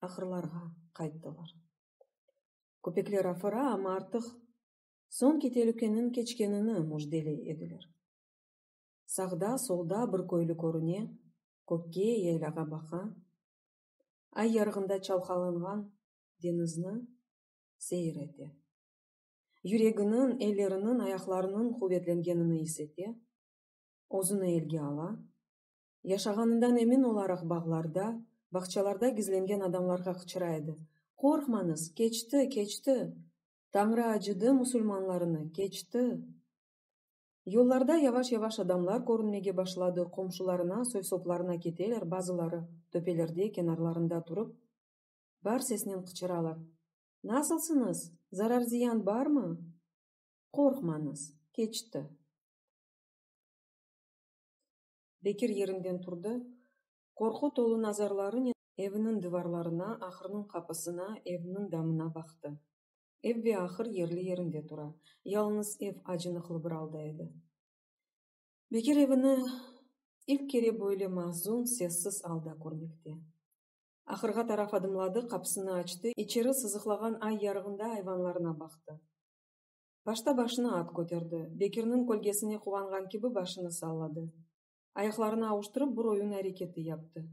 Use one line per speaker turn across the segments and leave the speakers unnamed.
ahırlarğa qayttılar. Köpekler afıra, amma artıq soñki telükeniñ keçkenini müjdeley ediler. Sağda, solda bir köylü körüne, kökke, yaylâğa baqa, ay yarığında çalqalanğan deñizni seyir ete. Yüreginiñ, elleriniñ, ayaqlarınıñ quvetlengenini is ete, özüni elge ala, Yaşağanından emin olaraq bağlarda, bağçalarda gizlengen adamlarğa qıçıra edi, Qorqmañız, keçti, keçti! Tañrı acıdı musulmanlarını, keçti! Yollarda yavaş-yavaş adamlar körünmege başladı, qomşularına, soy-soplarına keteler, bazıları töpelerde, kenarlarında turıp, bar sesnen qıçıralar, Nasılsıñız? Zarar-ziyan barmı? Qorqmañız, keçti! Bekir yerinden turdı, qorqu tolu nazarlarınen evniñ divarlarına, ahırnıñ qapısına, evniñ damına baqtı. Ev ve ahır yerli yerinde tura, yalıñız ev acınıqlı bir alda edi. Bekir evini ilk kere böyle mahzun, sessiz alda körmekte. Ahırğa taraf adımladı, qapısını açtı, içeri sızıqlağan ay yarığında ayvanlarına baqtı. Başta başını at köterdi, Bekirniñ kölgesine quvanğan kibi başını salladı. Ayaqlarını avuştırıp bir oyun areketi yaptı.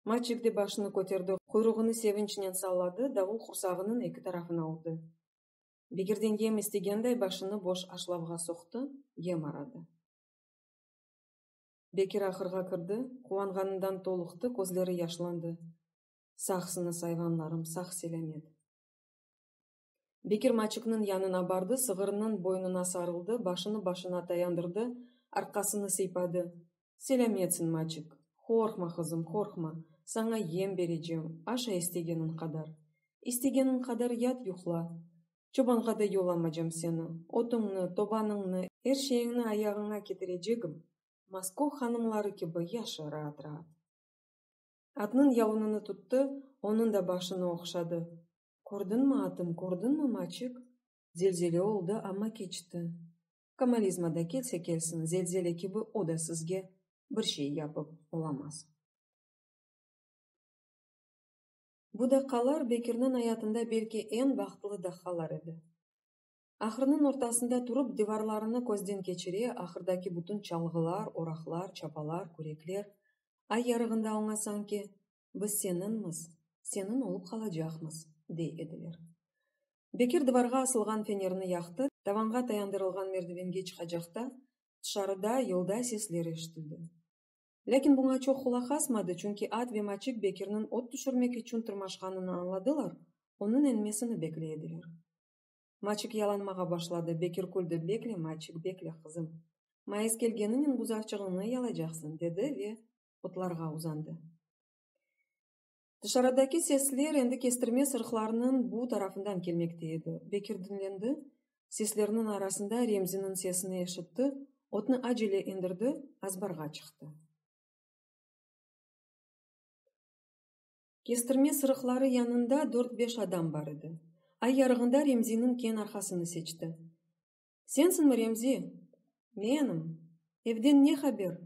Maçik de başını köterdi, quyruğını sevinçnen salladı, davul qursağınıñ eki tarafına urdı. Bekirden yem istegenday başını boş aşlavğa soqtı, yem aradı. Bekir ahırğa kirdi, quvanğanından toluqtı, közleri yaşlandı, Sağsıñız, ayvanlarım, sağ-selâmet! Bekir maçıknıñ yanına bardı, sığırnıñ boynuna sarıldı, başını başına tayandırdı, arqasını sıypadı. Selâmetsin, maçık! Qorqma, qızım, qorqma! Saña yem berecem, aşa istegeniñ qadar. İstegeniñ qadar yat, yuqla. Çobanğa da yollamacam seni. Otuñnı, tobanıñnı, er şeyiñni ayağıña ketirecegim. Moskov hanımları kibi yaşa raat-raat. Atnıñ yalunını tuttı, onıñ da başını oqşadı. Kördiñmi, atım, kördiñmi, maçik? Zelzele oldı, amma keçti. Komalizma da kelse kelsin, zelzele kibi o da sizge bir şey yapıp olamaz. Bu daqalar Bekirniñ ayatında belki eñ bahtlı daqalar edi. Ahırnıñ ortasında turıp, divarlarını közden keçire, ahırdaki bütün çalğılar, oraqlar, çapalar, kürekler, ay yarığında oña sanki biz seninmiz, senin olıp qalacaqmız, dey ediler. Bekir divarğa asılğan fenerini yaqtı, tavanğa tayandırılğan merdivenge çıqacaqta, tışarıda yolda sesler eşitildi. Lâkin buña çoq qulaq asmadı, çünki at ve maçik Bekirniñ ot tüşürmek içün tırmaşqanını añladılar, onıñ enmesini bekley ediler. Maçik yalanmağa başladı, Bekir küldi, Bekle, maçik, bekle, qızım. Mayıs kelgeninen buzavçığıñnı yalaycaqsıñ, dedi ve otlarğa uzandı. Dışarıdaki sesler endi kestirme sırıqlarnıñ bu tarafından kelmekte edi. Bekir diñlendi, seslerniñ arasında Remziniñ sesini eşitti, otnı acele endirdi, azbarğa çıqtı. Kestirme sırıqları yanında dört-beş adam bar edi. Ay yarığında Remziniñ keñ arqasını seçti. Sensiñmi, Remzi? Menim. Evden ne haber?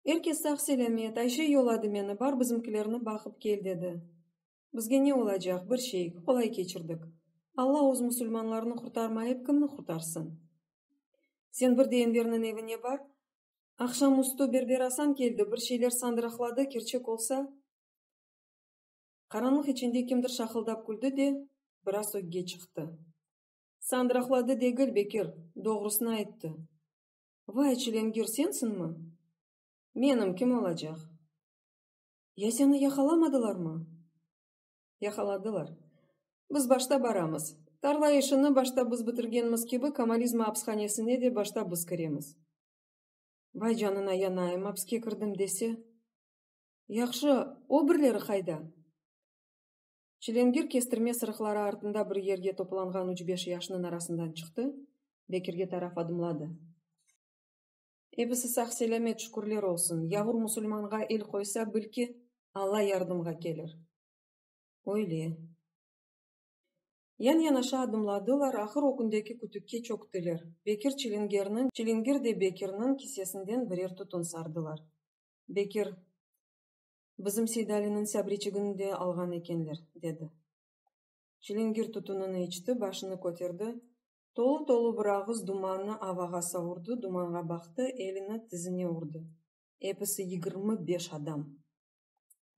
Er kes sağ-selâmet, Ayşe yolladı meni, bar bizimkilerni baqıp kel, dedi. Bizge ne olacaq, bir şey, qolay keçirdik. Alla öz musulmanlarını qurtarmayıp, kimni qurtarsın? Sen bir de Enverniñ evine bar. Aqşam üstü Berber Asan keldi, bir şeyler sandıraqladı, kerçek olsa. Qaranlıq içinde kimdir şaqıldap küldi de, biraz ögge çıqtı. Sandıraqladı degil, Bekir, doğrusını ayttı. Vay, çilengir sensinmi? Menim kim olacaq? Ya seni yaqalamadılarmı? Yaqaladılar. Biz başta baramız. Tarla işini başta biz bitirgenmiz kibi, Komalizma apshanesine de başta biz kiremiz. Vay, canına yanayım, apske kirdim dese. Yahşı, o birleri qayda? Çilingir kestirme sırıqları artında bir yerge toplanğan üç-beş yaşnıñ arasından çıqtı, Bekirge taraf adımladı. Ebisi sağ-selâmet, şükürler olsun! Yavur musulmanğa el qoysa, bil ki, Alla yardımğa kelir. Öyle. Yan-yanaşa adımladılar, ahır o kündeki kütükke çöktüler. Bekir Çilingerniñ, Çilingir de Bekirniñ kisesinden birer tütün sardılar. Bekir. Bizim Seydaliniñ sabriçigini de alğan ekenler, dedi. Çilingir tütünini içti, başını köterdi, tolu-tolu bir ağız dumannı avağa savurdı, dumanğa baqtı, elini tizine urdı. Episi yigirmi beş adam!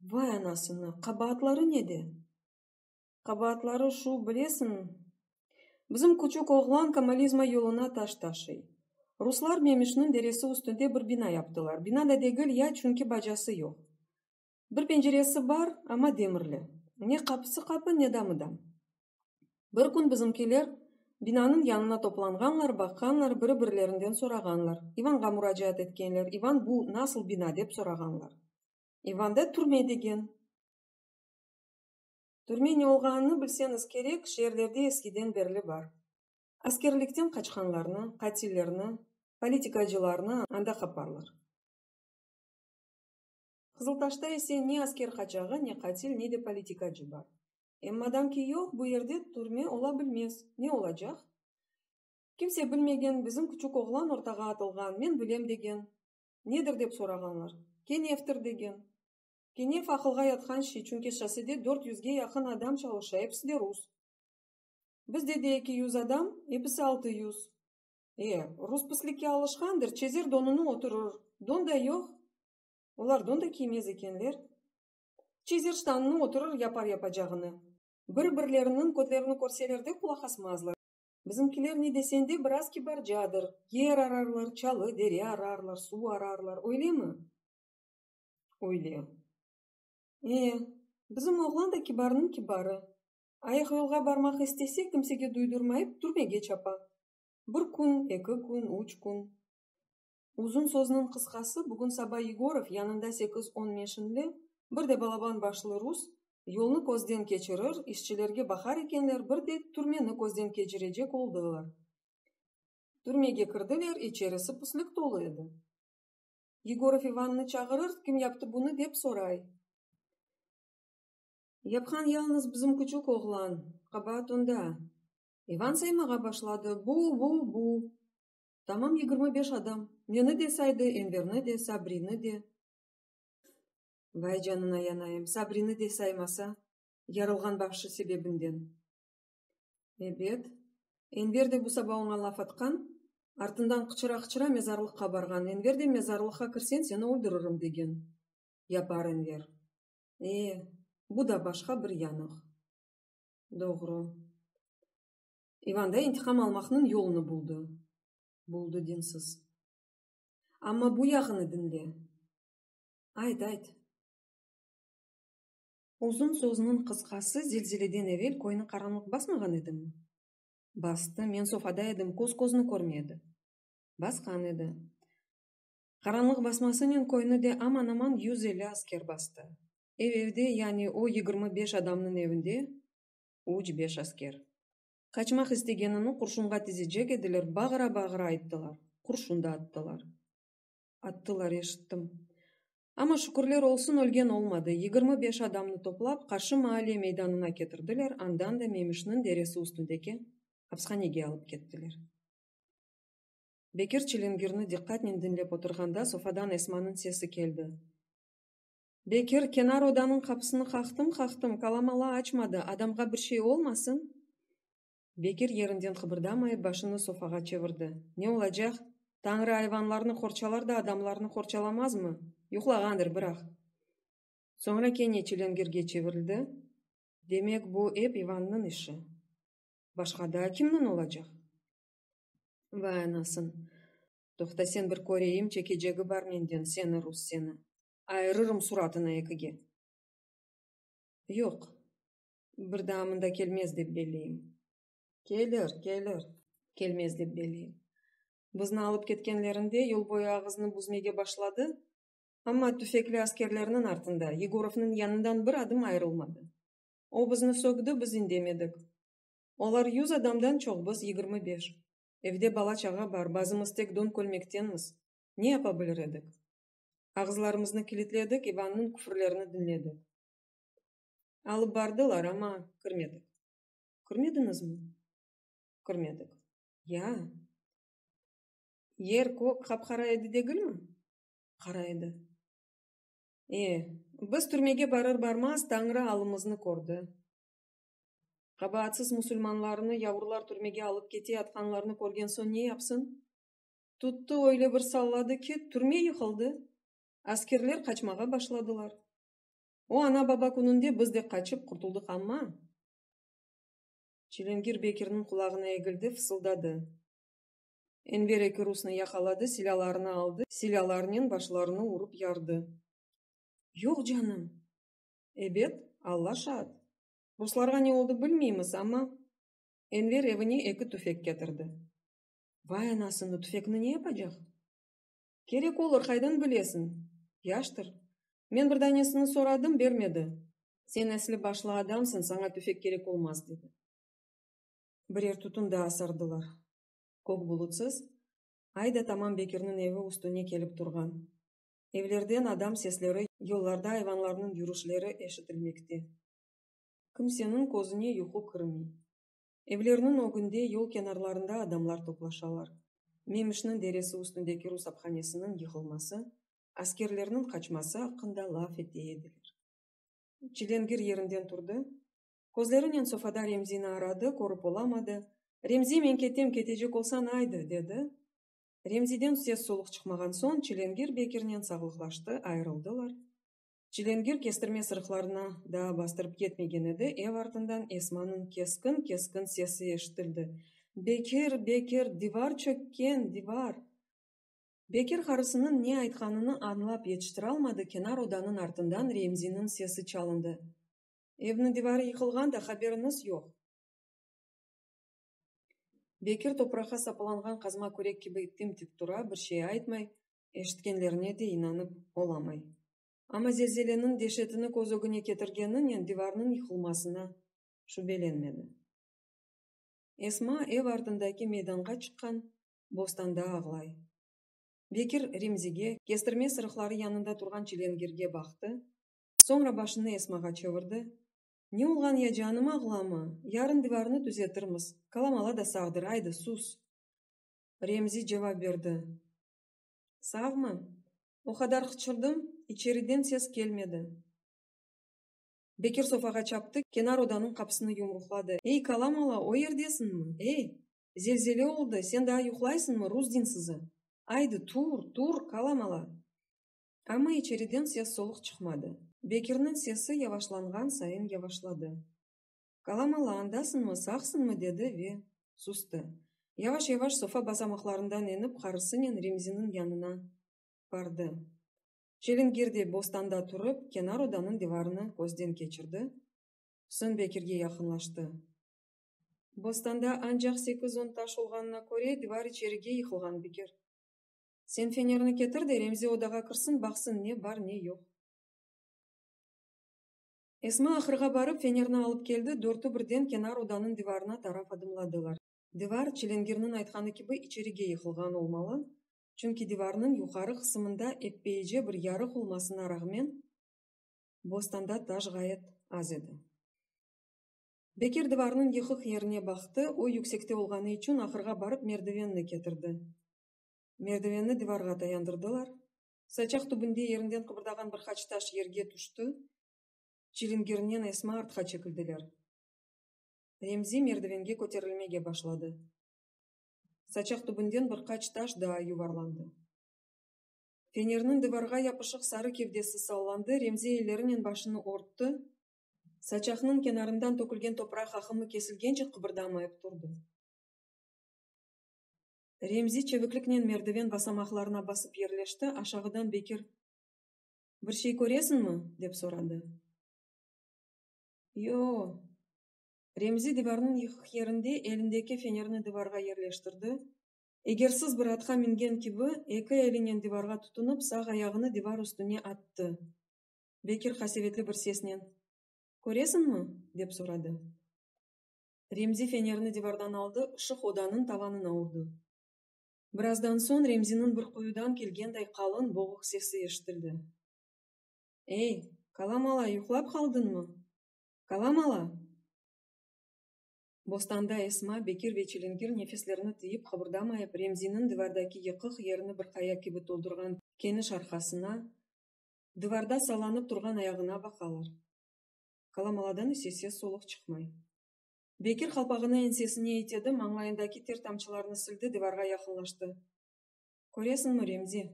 Vay anasını, qabaatları nede? Qabaatları şu, bilesiñmi? Bizim küçük oğlan komolizma yoluna taş taşıy. Ruslar Memişniñ deresi üstünde bir bina yaptılar. Bina da degil, ya çünki bacası yoq. Bir penceresi bar, amma demirli. Ne qapısı qapı, ne damı dam. Bir kün bizimkiler binanıñ yanına toplanğanlar, baqqanlar, biri-birlerinden sorağanlar. İvanğa muracaat etkenler, İvan, bu nasıl bina, dep sorağanlar. İvan da, türme, degen. Türme ne olğanını bilseñiz kerek, şeerlerde eskiden berli bar. Askerlikten qaçqanlarnı, qatillerni, politikacılarnı anda qaparlar. Qızıltaşta ise ne asker qaçağı, ne qatil, ne de politikacı bar. Em madam ki yoq, bu yerde türme ola bilmez. Ne olacaq? Kimse bilmegen, bizim küçük oğlan ortağa atılğan, men bilem degen. Nedir dep sorağanlar. Kenevtir degen. Kene faqılğa yatqan şey, çünki şossede dört yüzge yaqın adam çalışa, episi de rus. Bizde de eki yüz adam, episi altı yüz. E, rus pislikke alışqandır, çezer donunı oturur, don da yoq, olar don da kiymez ekenler, çezer ştanını oturur, yapar yapacağını. Bir-birleriniñ kötlerini körseler de qulaq asmazlar. Bizimkiler ne desen de biraz kibarcadır, yer ararlar, çalı, dere ararlar, suv ararlar, öylemi? öyle. E, bizim oğlan da kibarnıñ kibarı. Ayıq yolğa barmaq istese, kimsege duydurmayıp, türmege çapa. Bir kün, eki kün, üç kün. Uzun sözniñ qısqası, bugün saba Yegorov yanında sekiz-on meşinli, bir de balaban başlı rus, yolnı közden keçirir, işçilerge baqar ekenler, bir de türmeni közden keçirecek oldılar. Türmege kirdiler, içerisi pislik tolu edi. Yegorov İvannı çağırır, kim yaptı bunı, dep soray. Yapqan yalnız bizim küçük oğlan, qabaat onda. İvan saymağa başladı, bu, bu, bu. Tamam yigirmi beş adam. Meni de saydı, Enverni de, Sabrini de. Vay canına yanayım, Sabrini de saymasa, yarılğan bağışı sebebinden. Ebet. Enver de bu saba oña laf atqan, artından qıçıra-qıçıra mezarlıqqa barğan. Enver de, Mezarlıqqa kirsen, seni öldürürüm, degen. Yapar Enver. E, bu da başqa bir yanıq. Doğru. İvan da intiqam almaqnıñ yolunı buldı. Buldı, dinsiz. Amma bu yağını diñle. Ayt, ayt. Uzun sözniñ qısqası, zelzeleden evel köyni qaranlıq basmağan edimi? Bastı, men sofada edim, köz közni körmey edi. Basqan edi. Qaranlıq basmasınen köyni de aman-aman yüz elli asker bastı. Ev-evde, yani o yigirmi beş adamnıñ evinde üç-beş asker. Qaçmaq istegenini qurşunğa tizecek ediler, bağıra-bağıra ayttılar, qurşun da attılar. Attılar, eşittim. Amma şükürler olsun, ölgen olmadı. Yigirmi beş adamnı toplap, qarşı maale meydanına ketirdiler, andan da Memişniñ deresi üstündeki apshanege alıp kettiler. Bekir çilingirni diqqatnen diñlep oturğanda sofadan Esmanıñ sesi keldi. Bekir, kenar odanıñ qapısını qaqtım-qaqtım, kalamala açmadı, adamğa bir şey olmasın? Bekir yerinden qıbırdamayıp, başını sofağa çevirdi. Ne olacaq? Tañrı ayvanlarnı qorçalar da, adamlarnı qorçalamazmı? Yuqlağandır, biraq. Soñra kene çilengirge çevirildi. Demek, bu ep İvannıñ işi. Başqa daa kimniñ olacaq? Vay anasın! Toqta, sen bir köreyim, çekecegi bar menden seni, rus seni! Ayırırım suratını ekige! Yoq, Bir daa mında kelmez dep belleyim. Kelir, kelir. Kelmez dep belleyim. Bizni alıp ketkenlerinde yol boyu ağızını büzmege başladı, amma tüfekli askerlerniñ artında, Yegorovnıñ yanından bir adım ayırılmadı. O bizni sökdi, biz indemedik. Olar yüz adamdan çoq, biz yigirmi beş. Evde bala-çağa bar, bazımız tek don kölmektenmiz. Ne yapa bilir edik? Ağızlarımıznı kilitledik, İvannıñ küfürlerini diñledik. Alıp bardılar, amma kirmedik. Kirmediñizmi? Kirmedik. Ya. Yer kök qap-qara edi degilmi? Qara edi. E, biz türmege barır-barmaz Tañrı alımıznı kördi. Qabaatsız musulmanlarnı yavrular türmege alıp kete atqanlarını körgen soñ ne yapsın? Tuttı öyle bir salladı ki, türme yıqıldı, askerler qaçmağa başladılar. O ana-baba kününde biz de qaçıp qurtuldıq amma? Çilingir Bekirniñ qulağına egildi, fısıldadı. Enver eki rusnı yaqaladı, silâlarını aldı, silâlarnen başlarını urıp yardı. Yoq canım! Ebet, Alla şaat, ruslarğa ne oldı bilmeymiz, amma. Enver evine eki tüfek ketirdi. Vay anasını, tüfekni ne yapacaq? Kerek olur, qaydan bilesiñ? Yaştır. Men bir danesini soradım, bermedi. Sen esli başlı adamsıñ, saña tüfek kerek olmaz, dedi. Birer tütün daa sardılar. Kök bulutsız ay da tamam Bekirniñ evi üstüne kelip turğan. Evlerden adam sesleri, yollarda ayvanlarnıñ yürüşleri eşitilmekte. Kimseniñ közüne yuqu kirmey. Evlerniñ ögünde, yol kenarlarında adamlar toplaşalar. Memişniñ deresi üstündeki rus aphanesiniñ yıqılması, askerlerniñ qaçması aqqında laf ete ediler. Çilengir yerinden turdı. Közlerinen sofada Remzini aradı, körip olamadı. Remzi, men ketem, ketecek olsañ, aydı! dedi. Remziden ses-soluq çıqmağan soñ, Çilengir Bekirnen sağlıqlaştı, ayırıldılar. Çilingir kestirme sırıqlarına daa bastırıp yetmegen edi, ev artından Esmanıñ keskin-keskin sesi eşitildi, Bekir, Bekir, divar çökken, divar! Bekir qarısınıñ ne aytqanını añlap yetiştiralmadı, kenar odanıñ artından Remziniñ sesi çalındı, Evniñ divarı yıqılğan da, haberiñiz yoq! Bekir topraqqa sapılanğan qazma kürek kibi tim-tik tura, bir şey aytmay, eşitkenlerine de inanıp olamay. Amma zelzeleniñ deşetini köz ögüne ketirgeninen divarnıñ yıqılmasına şübelenmedi. Esma ev ardındaki meydanğa çıqqan bostanda ağlay. Bekir Remzige, kestirme sırıqları yanında turğan çilengirge baqtı, soñra başını Esmağa çevirdi, Ne olğan ya canım, ağlama, yarın divarnı tüzetirmiz, kalamala da sağdır, aydı, sus! Remzi cevap berdi. Savmı? O qadar qıçırdım, içeriden ses kelmedi. Bekir sofağa çaptı, kenar odanıñ qapısını yumruqladı. Ey, Kalamala, o yerdesiñmi? Ey, zelzele oldı, sen daa yuqlaysıñmı, rus dinsızı? Aydı, tur, tur, Kalamala! Amma içeriden ses-soluq çıqmadı. Bekirniñ sesi yavaşlanğan sayın yavaşladı. Kalamalı, andasıñmı, sağsıñmı? dedi ve sustı. Yavaş-yavaş sofa basamaqlarından enip qarısınen Remziniñ yanına bardı. Çelingirde bostanda turıp, kenar odanıñ divarını közden keçirdi, soñ Bekirge yaqınlaştı. Bostanda ancaq sekiz-on taş olğanına köre, divar içerige yıqılğan, Bekir. Sen fenerni ketir de, Remzi odağa kirsin, baqsın, ne bar, ne yoq. Esma ahırğa barıp fenerni alıp keldi, dörtü birden kenar odanıñ divarına taraf adımladılar. Divar, çilingirniñ aytqanı kibi, içerige yıqılğan olmalı, çünki divarnıñ yuqarı qısımında eppeice bir yarıq olmasına rağmen, bostanda taş ğayet az edi. Beker divarnıñ yıqıq yerine baqtı, o, yüksekte olğanı içün, ahırğa barıp merdivenni ketirdi. Merdivenni divarğa tayandırdılar. Saçaq tübünde yerinden qıbırdağan bir qaç taş yerge tüşti, çilingirnen esma artqa çekildiler. Remzi merdivenge köterilmege başladı. Saçaq tübünden bir qaç taş daa yuvarlandı. Fenerniñ divarğa yapışıq sarı kevdesi sallandı, Remzi ellerinen başını örtti, saçaqnıñ kenarından tökülgen topraq aqımı kesilgence qıbırdamayıp turdı. Remzi çevikliknen merdiven basamaqlarına basıp yerleşti, aşağıdan Bekir, Bir şey köresiñmi? dep soradı. Yo-o. Remzi divarnıñ yıqıq yerinde elindeki fenerni divarğa yerleştirdi, eger sız bir atqa mingen kibi, eki elinen divarğa tutunıp, sağ ayağını divar üstüne attı. Bekir qasevetli bir sesnen, Köresiñmi? dep soradı. Remzi fenerni divardan aldı, ışıq odanıñ tavanına urdı. Birazdan soñ Remziniñ bir quyudan kelgenday qalın, boğuq sesi eşitildi. Ey, Kalamala, yuqlap qaldıñmı? Kalamala! Bostanda Esma, Bekir ve Çilingir nefeslerini tıyıp, qıbırdamayıp, Remziniñ divardaki yıqıq yerini bir qaya kibi toldurğan keniş arqasına, divarda sallanıp turğan ayağına baqalar. Kalamaladan ise ses-soluq çıqmay. Bekir qalpağını ensesine itedi, mañlayındaki ter tamçılarını sildi, divarğa yaqınlaştı. Köresiñmi, Remzi?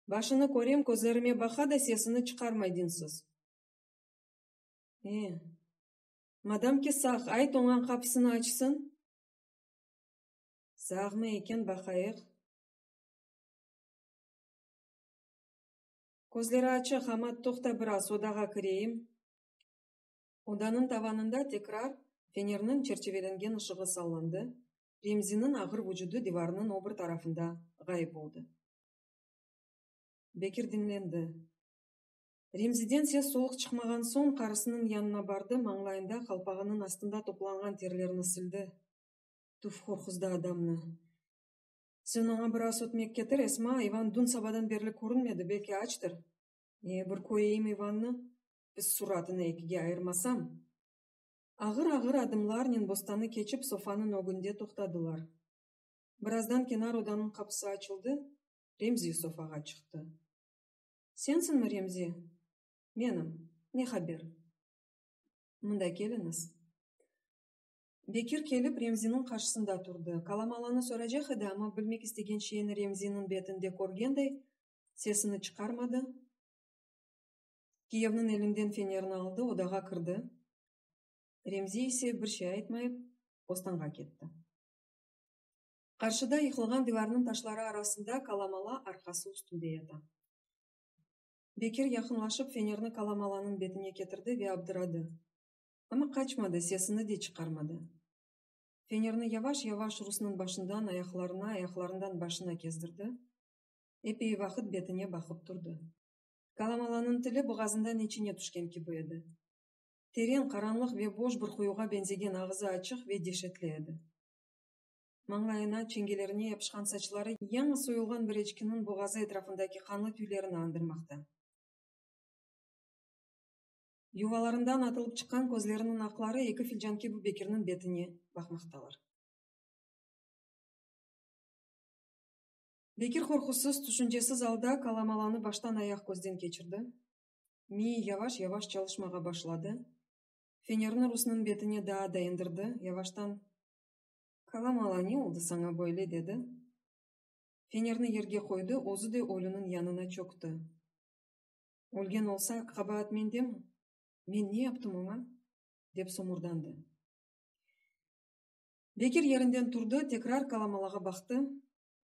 Başını körem, közlerime baqa da sesini çıqarmay dinsiz. E, madam ki sağ, ayt oña qapısını açsın. Sağmı eken, baqayıq. Közleri açıq, amma toqta biraz, odağa kireyim. Odanıñ tavanında tekrar fenerniñ çerçevelengen ışığı sallandı, Remziniñ ağır vucudı divarnıñ obir tarafında ğayıp oldı. Bekir diñlendi. Remziden ses-soluq çıqmağan soñ, qarısınıñ yanına bardı, mañlayında qalpağınıñ astında toplanğan terlerni sildi. Tüf, qorquzdı adamnı! Sen oña biraz ötmek ketir, Esma, İvan dün sabadan berli körünmedi, belki açtır. Ee, bir köreyim İvannı, pis suratını ekige ayırmasam. Ağır-ağır adımlarnen bostanı keçip sofanıñ ögünde toqtadılar. Birazdan kenar odanıñ qapısı açıldı, Remzi sofağa çıqtı. Sensiñmi, Remzi? Menim. Ne haber? Mında keliñiz. Bekir kelip, Remziniñ qarşısında turdı. Kalamalanı soracaq edi, amma bilmek istegen şeyini Remziniñ betinde körgenday, sesini çıqarmadı. Kiyevniñ elinden fenerini aldı, odağa kirdi. Remzi ise bir şey aytmayıp, ostanğa ketti. Qarşıda, yıqılğan divarnıñ taşları arasında Kalamala arqası üstünde yata. Bekir yaqınlaşıp, fenerni Kalamalanıñ betine ketirdi ve abdıradı. Amma qaçmadı, sesini de çıqarmadı. Fenerni yavaş-yavaş Rusnıñ başından ayaqlarına, ayaqlarından başına kezdirdi. Epey vaqıt betine baqıp turdı. Kalamalanıñ tili boğazından içine tüşken kibi edi. Teren, qaranlıq ve boş bir quyuğa beñzegen ağızı açıq ve deşetli edi. Mañlayına, çengelerine yapışqan saçları yañı soyulğan bir eçkiniñ boğazı etrafındaki qanlı tüylerini andırmaqta. Yuvalarından atılıp çıqqan közleriniñ aqları eki filcan kibi Bekirniñ betine baqmaqtalar. Bekir qorqusız, tüşüncesiz alda kalamalanı baştan-ayaq közden keçirdi. Miyi yavaş-yavaş çalışmağa başladı. Fenerni Rusnıñ betine daa da endirdi, yavaştan, Kalamala, ne oldı saña böyle? dedi. Fenerni yerge qoydı, özü de ölüniñ yanına çökti. Ölgen olsa, qabaat mendemi? Men ne yaptım oña? dep somurdandı. Bekir yerinden turdı, tekrar kalamalağa baqtı,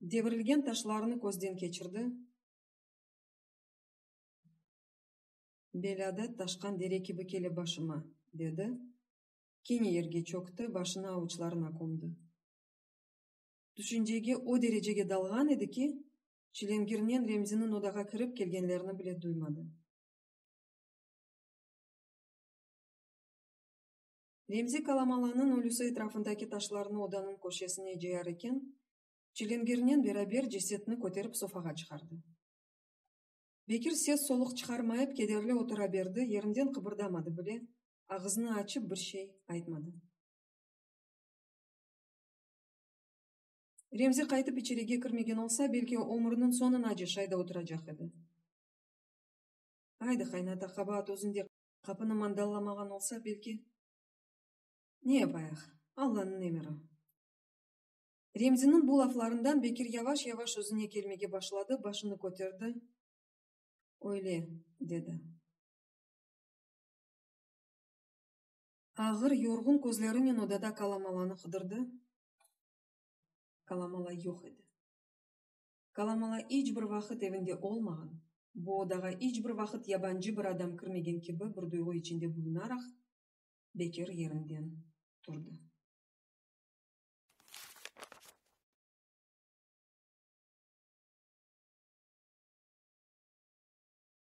devirilgen taşlarını közden keçirdi, belâda taşqan dere kibi kele başıma, dedi, kene yerge çökti, başını avuçlarına kömdi. Tüşüncege o derecege dalğan edi ki, Çilingirnen Remziniñ odağa kirip kelgenlerini bile duymadı. Remzi Kalamalanıñ ölüsi etrafındaki taşlarnı odanıñ köşesine cıyar eken, Çilingirnen beraber cesetni köterip sofağa çıqardı. Bekir ses-soluq çıqarmayıp kederli otura berdi, yerinden qıbırdamadı bile, ağızını açıp bir şey aytmadı. Remzi qaytıp içerige kirmegen olsa, belki ömrüniñ soñunace şayda oturacaq edi. Aydı, qaynata, qabaat özünde, qapını mandallamağan olsa, belki. Ne yapayıq, Allanıñ emiri. Remziniñ bu laflarından Bekir yavaş-yavaş özüne kelmege başladı, başını köterdi, Öyle, dedi. Ağır, yorğun közlerinen odada kalamalanı qıdırdı. Kalamala yoq edi. Kalamala iç bir vaqıt evinde olmağan, bu odağa iç bir vaqıt yabancı bir adam kirmegen kibi bir duyğu içinde bulunaraq, Bekir yerinden turdı.